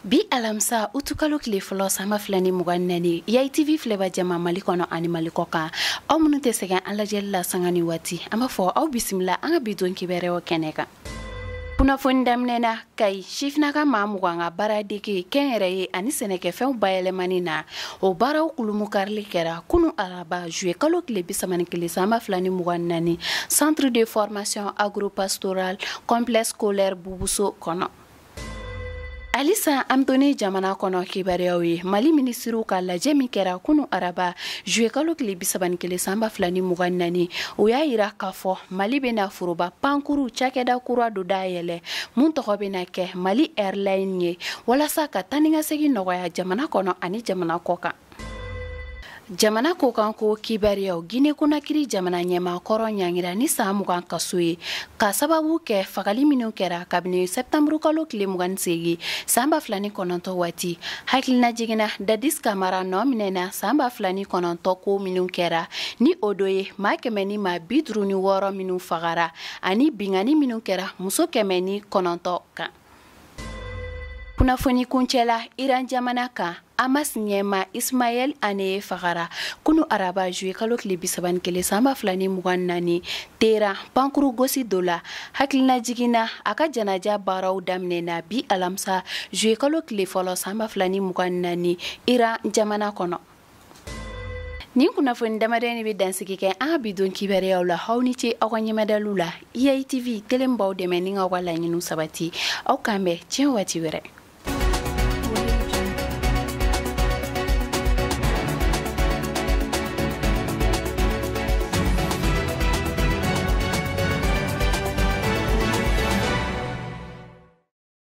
bi alamisa utukalo tile fɔlɔ san ba fila ni mugan ni naani yayi tv filɛba jama mali kɔnɔ ani mali kɔ kan aw minnu tɛ sɛgɛn an lajɛli la sanga ni waati an b'a fɔ aw bisimila an ka bi don kibaruyaw kɛnɛ kan kunnafoni daminɛna kayi sifinaka maa mugan ka baara dege kɛnyɛrɛye ani sɛnɛkɛfɛnw bayɛlɛmani na o baaraw kulumu karili kɛra kunu araba juye kalo tile bi saba ni kelen san ba fila ni mugan ni naani centre de formation agropastoral complexe scolaire bubuso kɔnɔ halisa an to ni jamana kɔnɔ kibaruyaw ye mali minisiriw ka lajɛ min kɛra kunu araba juye kalo tile bi saba ni kelen san ba fila ni mugan ni naani o y'a yira k'a fɔ mali bɛna foroba pankuru cakɛda kura dɔ dayɛlɛ mun tɔgɔ bɛna kɛ mali airline ye walasa ka taanikasegin nɔgɔya jamana kɔnɔ ani jamana kɔ kan jamana kɔ kan ko kibaruyaw gine konakiri jamana ɲɛmaa kɔrɔ ɲangira ni san mugan kaso ye ka sababu kɛ fagali minw kɛra kabini sɛptanburu kalo tile mugan seegin san ba fila ni kɔnɔntɔ waati hakilina jigin na dadis kamara nɔ minɛna san ba fila ni kɔnɔntɔ ko minw kɛra ni o dɔ ye maa kɛmɛ ni maa bi duru ni wɔɔrɔ minw fagara ani binkanni minw kɛra muso kɛmɛ ni kɔnɔntɔ kan kunnafoni kuncɛla iran jamana kan hamas ɲɛmaa ismaɛl aniye fagara kunu araba juye kalo tile bi saba ni kelen san ba fila ni mugan naani teran pankuru gosi dɔ la hakilina jigin na a ka janaja baaraw daminɛna bi alamisa juye kalo tile fɔlɔ san ba fila ni mugan naani iran jamana kɔnɔ Nin kunnafoni damadɔ de bɛ dansigi kɛ an ka bi don kibaruyaw la aw ni ce aw ka ɲɛmadali la Yayi TV telen b'aw dɛmɛ ni k'aw ka laɲiniw sabati aw k'an bɛn tiɲɛ waati wɛrɛ